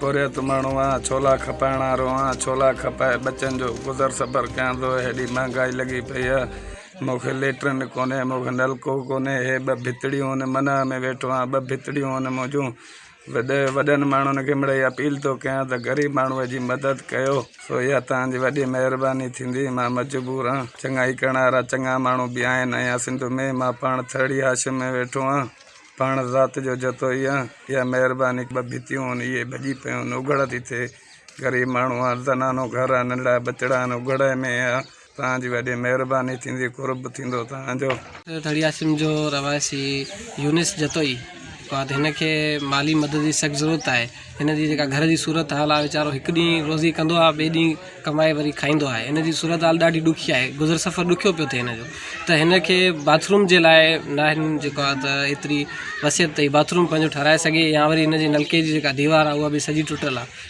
پورهيت ماڻهو آهان، ڇولا کپائڻ وارو آهان، ڇولا کپائي ٻچن جو گذر سفر ڪيان ٿو، هيڏي مهانگائي لڳي پئي آهي، مون کي ليٽرن ڪونهي، مون کي نلڪو ڪونهي، هي ٻه ڀتڙيون هن منهه ۾ ويٺو آهان، ٻه ڀتڙيون آهن منهنجون. وڏن ماڻهن کي مڙئي اپيل ٿو ڪيان ته غريب ماڻهوء جي مدد ڪيو سو اها توهان جي وڏي مهرباني ٿيندي مان مجبور آهن چڱائي ڪرڻ وارا چڱا ماڻهو به آهن ۽ اها سنڌ ۾ مان پاڻ ٿرڙي حاشيي ۾ ويٺو آهيان پاڻ ذات جو جتوئي آهيان اها مهرباني ٻه ڀتيون آهن اهي ڀڄي پيون آهن اگهڙ ٿي ٿئي غريب ماڻهو آهيان زنانو گهر آهي ننڍڙا ٻچڙا آهن اگهڙ ۾ آهيان توهان جي وڏي مهرباني ٿيندي قرب ٿيندو توهان جو. ڌڙيا سم جو رهواسي يونس جتوئي فهد هن کي مالي مدد جي سخت ضرورت آهي هن جي جيڪا گهر جي صورت حال آهي ويچارو هڪ ڏينهن روزي ڪندو آهي ٻئي ڏينهن ڪمائي وري کائيندو آهي هن جي صورت حال ڏاڍي ڏکي آهي گذر سفر ڏکيو پيو ٿئي هن جو ته هن کي باٿروم جي لاء ناهن جيڪو آهي ته ايتري وصيت تئي باٿروم پنهنجو ٺهرائي سگهي يا وري هن جي نلڪي جي جيڪا ديوار آهي اها به سڄي ٽٽل آهي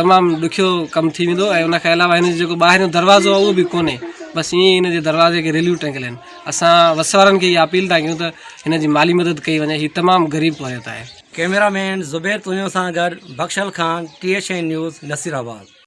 تمام ڏکيو ڪم ٿي ويندو ۽ ان کان علاوه هن جو جيڪو ٻاهريون دروازو اهو به ڪونهي بس ائين ئي هن جي دروازي کي ريليون ٽنگيل آهن اسان وس وارن کي اها اپيل ٿا ڪيون ته هن جي مالي مدد ڪئي وڃي هي تمام غريب پورهيت آهي. ڪيميرا مين زبير تونيو سان گڏ Bakhshal Khan, T H N news, Nasirabad.